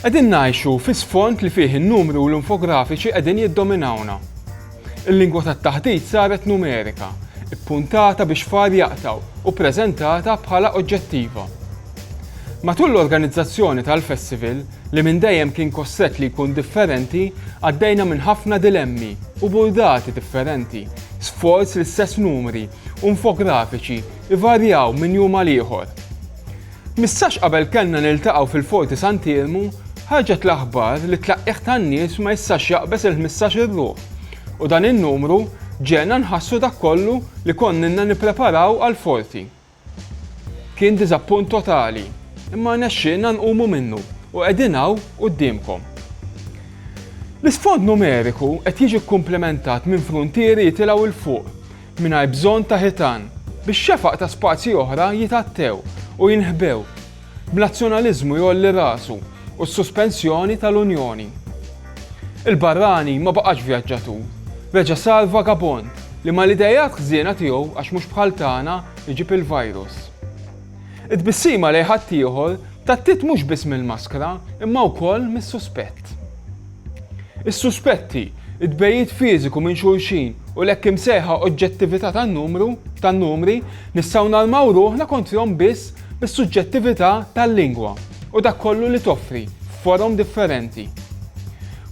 Qegħdin ngħixu fi sfond li fih in-numri u l-infografiċi qegħdin jiddominawna. Il-lingwa tat-taħdit saret numerika, ippuntata biex far jaqtgħu u ppreżentata bħala oġġettiva. Matul l-organizzazzjoni tal-festival, li minn dejjem kien kostret li jkun differenti, għaddejna minn ħafna dilemmi u burdati differenti, sforz li stess numri u infografiċi jvarjaw minn jum għal ieħor. Mistax qabel kellna niltaqgħu fil-Forti Sant'Iermu, ħarġet l-aħbar li t-tlaqqigħ tan-nies ma jistax jaqbeż il-ħmistax-il ruħ u dan in-numru ġegħelna nħassu dak kollu li konnilna nippreparaw għall-Forti. Kien diżappunt totali, imma rnexxielna nqumu minnu u qegħdin hawn quddiemkom. L-isfond numeriku qed jiġi kkumplimentat minn fruntieri jitilgħu 'l fuq, Mingħajr bżonn ta' ħitan. Bix-xefaq ta' spazji oħra jitgħattew u jinħbew. B'nazzjonaliżmu jgħolli rasu u s-suspensjoni tal-Unjoni. Il-barrani ma baqax vjaġġatur. Reġa' sar vagabond li mal-ideat ħżiena tiegħu għax mhux bħal tagħna jġib il-virus. It-tbissima lejn ħaddieħor tattiet mhux biss mill-maskra imma wkoll mis-suspett. Is-suspetti, it-tbegħid fiżiku minn xulxin u l-hekk imsejħa oġġettività tan-numru, tan-numri, nistgħu narmaw ruħna kontrihom biss bis-suġġettività tal-lingwa u dak kollu li toffri, f'forom differenti.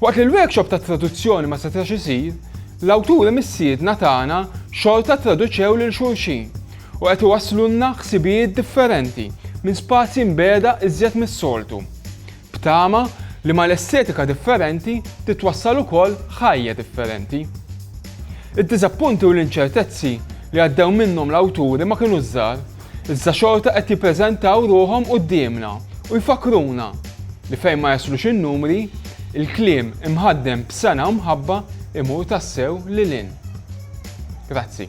Waqt li l-workshop tat-traduzzjoni ma setax isir, l-awturi missiedna tagħna xorta ttraduċew lil xulxin u qed iwasslulna ħsibijiet differenti minn spazji mbiegħda iżjed mis-soltu. B'tama li mal-estetika differenti titwassal ukoll ħajja differenti. Id-diżappunti u l-inċertezzi li għaddew minnhom l-awturi ma kinux żgħar, iżda xorta qed jippreżentaw ruħhom quddiemna u jfakkruna li fejn ma jaslux in-numri, il-kliem imħaddem b'sengħa u mħabba jmur tassew lil hinn. Grazzi.